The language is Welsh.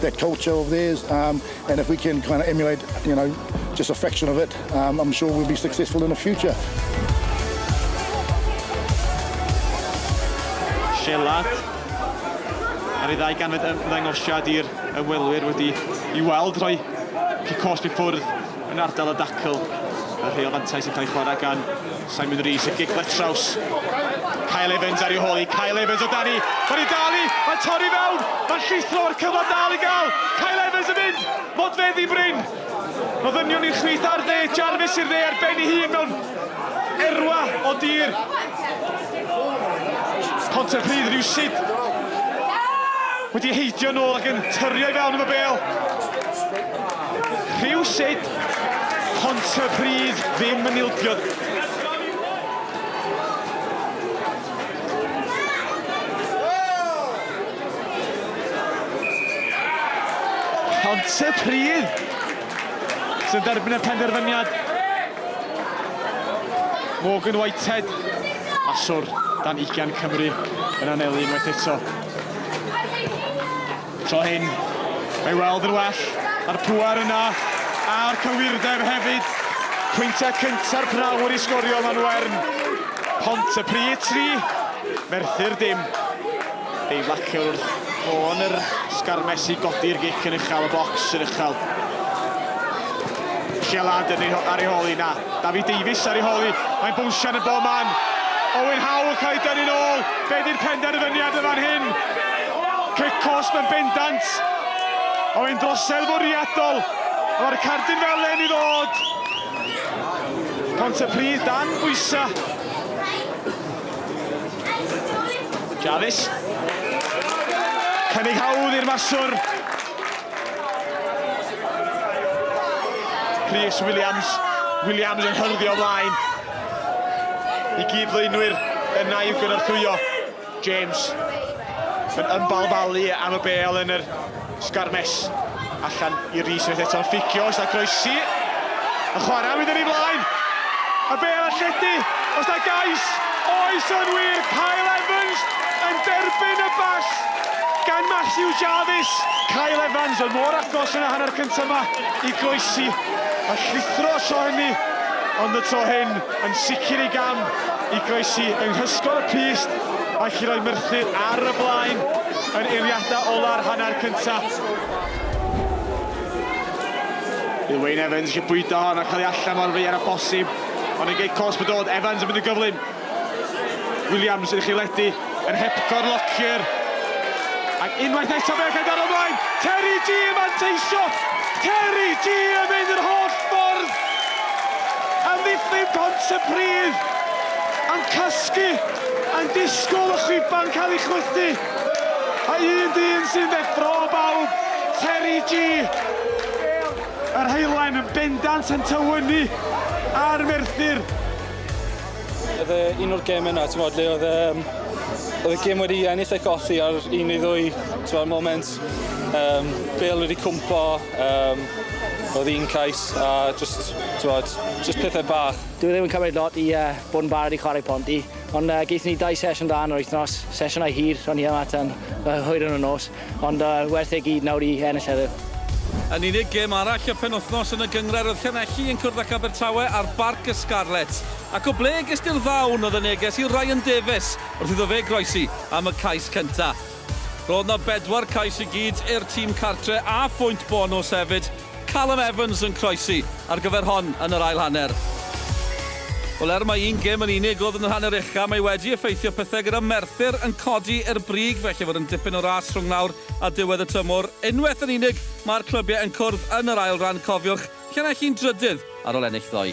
their culture over there um and if we can kind of emulate you know just a fraction of it um I'm sure we'll be successful in the future. Siarad ar ei ddau ganfed ymddangosiad i'r ymwelwyr wedi i weld rhoi cosb i ffwrdd yn ardal y dacl. Mae rheol fantais yn cael ei chwarae gan Simon Rees yn gigfa traws. Kyle Evans ar ei hôl i. Kyle Evans o dani. Mae'n ei dal i. Mae'n torri fewn. Mae'n llithro ar cyfle dal i gael. Kyle Evans yn mynd. Modfeddi Bryn. Mae ddynion i'r chwith ar dde. Jarvis i'r dde ar ben ei hun mewn erwa o dir. Pontypridd rhywsyd wedi heidio'n ôl ac yn tyrio i fewn am y bêl. Rhywsut, Pontypridd ddim yn ildio. Pontypridd sy'n derbyn y penderfyniad. Morgan Whitehead, maswr dan ugian Cymru, yn anelu unwaith eto. Tro hyn, mae weld yn well, a'r pŵer yna, a'r cywirdeb hefyd. Pwyntiau cynta'r P'nawr i sgorio man Wern. Pontypridd tri, Merthyr dim. Ei flaciwr wrth ffôn yr sgarmes i godi'r gic yn uchel, y bocs yn uchel. Sialad yn ei ar ei holi, na. David Davies ar ei hol hi, mae'n bownsio yn y bob man. Owen Howe yn cael ei dynnu'n ôl, be di'r penderfyniad yn fan hyn? Cic cosb yn bendant, o yn drosedd fwriadol, mae'r cardyn felen i ddod. Pontypridd dan bwysa. Jarvis. Cynnig hawdd i'r maswr. Rhys Williams, Williams yn hyrddio ymlaen i gyd ddwynwyr yn na i'w gynorthwyo. James yn ymbalfalu am y bel yn yr sgarmes. Allan i Rhys unwaith eto'n fficio, oes da groesi? Y chwarae mynd yn ei flaen! Y bel a lledu, oes da gais? Oes yn wir, Kyle Evans yn derbyn y bas Gan Matthew Jarvis, Kyle Evans oedd mor agos yn y hanner cyntaf yma i groesi a llithro y tro hynny, ond y tro hyn yn sicr ei gam i groesi yng nghysgod y pyst ac i roi Merthyr ar y blaen yn eiliadau ola'r hanner cyntaf. Bydd Wayne Evans eisiau bwydo hon a chael ei allan mor ddaear â phosib, ond yn gei cosb y dod, Evans yn mynd yn gyflym. Williams yn chiledi yn hepgor Lockyer. Ac unwaith eto fe gael ar ymlaen. Terry G yn manteisio. Terry G yn mynd yr holl ffordd. Amddiffyn pont y pridd. Am casgu. A'n disgwyl y chwiban cael ei chwythu. A un dyn sy'n ddeffro o bawb. Terry G. Yr heilen yn bendant yn tywynnu ar Merthyr. Oedd e un o'r geme 'na t'mod le oedd yym oedd y gem wedi ennill a'i golli ar un neu ddwy t'mod moment yym bêl wedi cwmpo yym oedd un cais a jyst t'mod jyst pethe bach. Dyw e ddim yn cymryd lot i yy bod yn barod i chwarae ponti ond yy geith ni dau sesiwn da yn yr wythnos, sesiynau hir o'n ni yma tan yy hwyr yn y nos. Ond yy werth e gyd nawr i ennill heddiw. Yn unig gêm arall y penwythnos yn y gynghrair oedd Llanelli yn cwrdd ac Abertawe ar Barc y Scarlets. Ac o ble gest ti'r ddawn oedd y neges i Ryan Davies wrth iddo fe groesi am y cais cynta'? Roedd 'na bedwar cais i gyd i'r tîm cartre' a phwynt bonws hefyd. Callum Evans yn croesi ar gyfer hon yn yr ail hanner. Wel, er mai un gêm yn unig oedd yn yr hanner ucha, mae wedi effeithio pethau gyda Merthyr yn codi i'r brig, felly fod yn dipyn o ras rhwng nawr a diwedd y tymor. Unwaith yn unig, mae'r clybiau yn cwrdd yn yr ail ran, cofiwch, Llanelli yn drydydd ar ôl ennill ddoe.